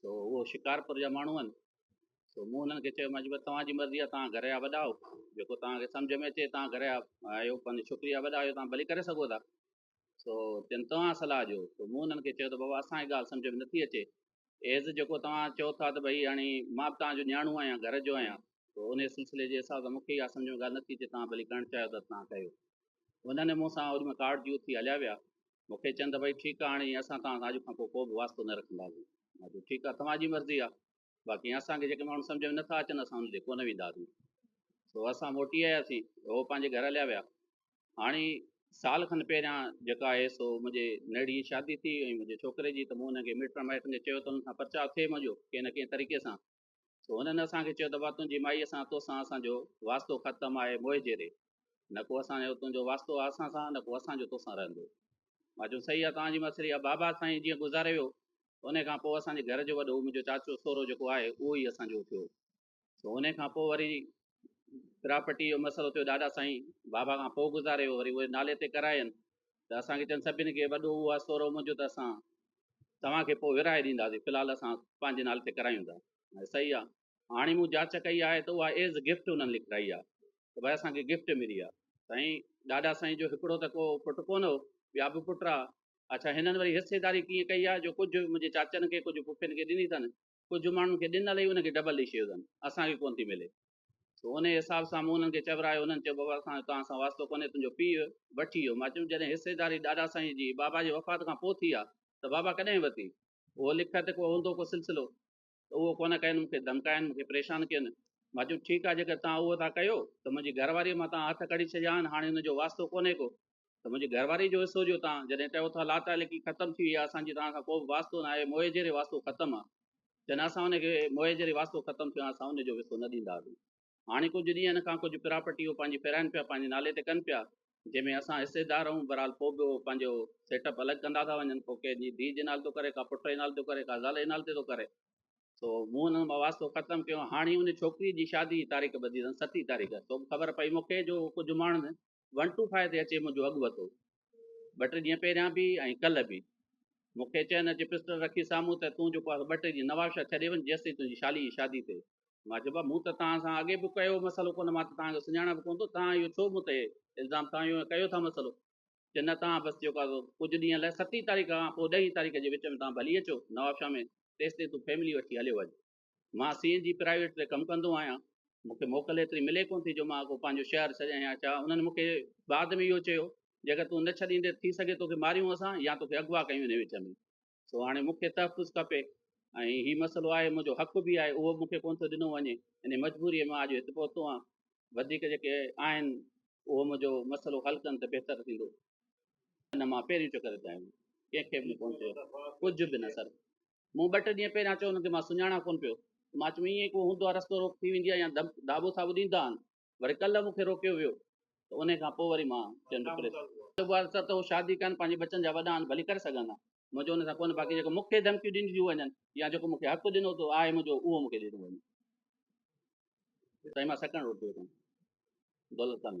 سو اهو شڪارپور جا ماڻهو آهن سو مون انهن کي چيو مجبور توهان جي مرضي آهي توهان گهر جا وڏا آهو جيڪو توهان کي سمجھ ۾ اچي توهان گهر جا آهيو پنهنجي ڇوڪري جا وڏا آهيو توهان ڀلي ڪري سگهو ٿا سو جن توهان صلاح ڏيو سو مون انهن کي چيو ته بابا اسان جي ڳالهه سمجھ ۾ نٿي اچي ايز جيڪو توهان چئو ٿا ته ڀئي هاڻي مان توهان جو نياڻو آهيان گهر جو آهيان سو ان سلسلي جي حساب سان مونکي اها سمجھ ۾ ڳالهه نٿي اچي توهان ڀلي ڪرڻ چاهيو ته توهان ڪيو انهن مون سان اوڏي مهل ڪارڊ جي اٿي هليا ويا مون کي چين ته ڀئي ٺيڪ آ هاڻي اسان توهان سان اڄ کان پوء ڪوبه واسطو نه رکنداسين. مان چيو ٺيڪ آ توهان جي مرضي آ باقي اسان کي جيڪي ماڻهو سمجهه ۾ نه ٿا اچن اسان انهن ڏي ڪونه وينداسين. سو اسان موٽي آياسين هو پنهنجي گهر هليا ويا. هاڻي سال کن پهريان جيڪا آهي سو منهنجي نيڙي جي شادي ٿي ۽ منهنجي ڇوڪري جي ته مون انهن کي مٽن مائٽن کي چيو ته انهن سان پرچاء ٿئي منهنجو ڪنهن نه ڪنهن طريقي سان سو انهن اسان کي چيو ته وا تنهنجي مائيء سان توسان اسان جو واسطو ختم آهي موهجيري نه ڪو اسان جو تنهنجو واسطو آهي اسان سان نه ڪو اسان جو توسان رهندو مان چيو صحيح آهي توهان جي مسري آهي بابا سائين جيئن گذاري ويو ان کان پوء اسان جي گهر جو وڏو منهنجو چاچو سورو جيڪو آهي اهو ئي اسان جو اٿيو سو ان کان پوء وري پراپرٽي جو مسئلو ٿيو ڏاڏا سائين بابا کان پوء گذاري ويو وري اهي نالي تي ڪراين ته اسانکي چن سڀني کي وڏو اهو آهي سورو منهنجو ته اسان توهانکي پوء ورهائي ڏينداسين في الحال اسان پنهنجي نالي تي ڪرايون ٿا صحيح آهي هاڻي مون جاچ ڪئي آهي ته اها ايز گفٽ انهن لکرائي آهي ته ڀاء اسان کي گفٽ ملي آهي سائين ڏاڏا سائين جو هڪڙو ته ڪو پٽ ڪونه هو ٻيا به پٽ آ اڇا هنن وري حصيداري ڪيئن ڪئي آهي جو ڪجهه منهنجي چاچن کي ڪجهه پڦين کي ڏني اٿن ڪجهه ماڻهن کي ڏنل ئي انهن کي ڊبل ڏئي ڇڏيو اٿن، اسان کي ڪونه ٿي ملي. سو انهيء حساب سان مون انهن کي چورايو. انهن چيو، بابا اسان جو توهان سان واسطو ڪونهي، تنهنجو پيء وٺي ويو. مان چيم، جڏهن حصيداري ڏاڏا سائينء جي بابا جي وفات کان پوء ٿي آ، ته بابا ڪڏهن ورتي؟ اهو لک ته ڪو هوندو ڪو سلسلو. ته اهو ڪونه ڪين، مون کي ڌمڪاين، مون کي پريشان ڪين. مان چيم، ٺيڪ آ، جيڪر توهان اهو ٿا ڪيو، ته منهنجي گهر واريء مان توهان هٿ ڪڍي ڇڏيا آهن، هاڻي هن جو واسطو ڪونهي ڪو. ته منهنجي گهر واري جو حصو جو تان جڏهن چئو ٿا لا تعلقي ختم ٿي وئي آهي اسان جي توهان سان ڪو به واسطو نه آهي موئي جهڙي واسطو ختم آهي جڏهن اسان ان کي موئي جهڙي واسطو ختم ٿيو آهي اسان ان جو حصو نه ڏيندا سين هاڻي ڪجهه ڏينهن ان کان ڪجهه پراپرٽي هو پنهنجي پهرائين پيا پنهنجي نالي تي ڪن پيا جنهن ۾ اسان حصيدار هون برحال پوء به پنهنجو سيٽ اپ الڳ ڪندا ٿا وڃن ڪو ڪنهن جي ڌيء جي نالي ٿو ڪري ڪا پٽ جي نالي ٿو ڪري ڪا زال جي نالي تي ٿو ڪري سو مون انهن مان واسطو ختم ڪيو هاڻي ان ڇوڪري جي شادي جي تاريخ ٻڌي اٿن ستي تاريخ سو خبر پئي مونکي جو ڪجهه ماڻهن ون ٽو فائيو تي اچي منهنجو اڳ وتو. ٻه ٽي ڏينهن پهريان به ۽ ڪلهه به. مون کي چين اچي پسٽل رکي سامهون ته تون جيڪو آهي سو ٻه ٽي ڏينهن نوابشاهه ڇڏي وڃ جيستائين تنهنجي شالي جي شادي ٿئي. مان چيو بابا مون ته توهان سان اڳي به ڪيو مسئلو ڪونه مان ته توهان کي سڃاڻان به ڪونه ٿو توهان اهو ڇو مون تي الزام توهان اهو ڪيو ٿا مسئلو. چين نه توهان بس جيڪو آهي سو ڪجهه ڏينهن لاء ستين تاريخ کان پوء ڏهين تاريخ جي وچ ۾ توهان ڀلي اچو نوابشاهه ۾ تيستائين تون فيملي وٺي هليو وڃ. مان سي اين جي پرائيويٽ تي ڪم ڪندو آهيان. مون کي موڪل ايتري ملي ڪونه ٿي جو مان ڪو پنهنجو شهر ڇڏيان يا ڇا. انهن مون کي بعد ۾ اهو چيو، جيڪر تون نه ڇڏيندين ٿي سگهي توکي ماريون اسان يا توکي اغوا ڪيون انهي وچ ۾. سو هاڻي مون کي تحفظ کپي ۽ هي مسئلو آهي منهنجو حق به آهي اهو به مون کي ڪونه ٿو ڏنو وڃي. انهي مجبوريء مان اڄ هت پهتو آهيان. وڌيڪ جيڪي آهن اهو منهنجو مسئلو حل ڪن ته بهتر ٿيندو. ان مان پهريون چڪر تائين ڪنهن کي به ڪونه چيو. ڪجهه به نه سر. مون ٻه ٽه ڏينهن پهريان چيو هن کي مان سڃاڻان ڪونه پيو ته مان چيم ائين ڪو هوندو آهي رستو روڪ ٿي ويندي آهي يا داٻو ٿاٻو ڏيندا آهن وري ڪلهه مون کي روڪيو ويو ته انهي کان پوء وري مان چيم ته پريس ته اها ته هو شادي ڪن پنهنجي ٻچن جا وڏا آهن ڀلي ڪري سگهن ها منهنجو ان سان ڪونه باقي جيڪو مون کي ڌمڪيون ڏنجيون وڃن يا جيڪو مون کي حق ڏنو اٿو آهي منهنجو اهو مون کي ڏنو وڃي سائين مان سڪڻ روٽيو ڪونه دولت ڪانه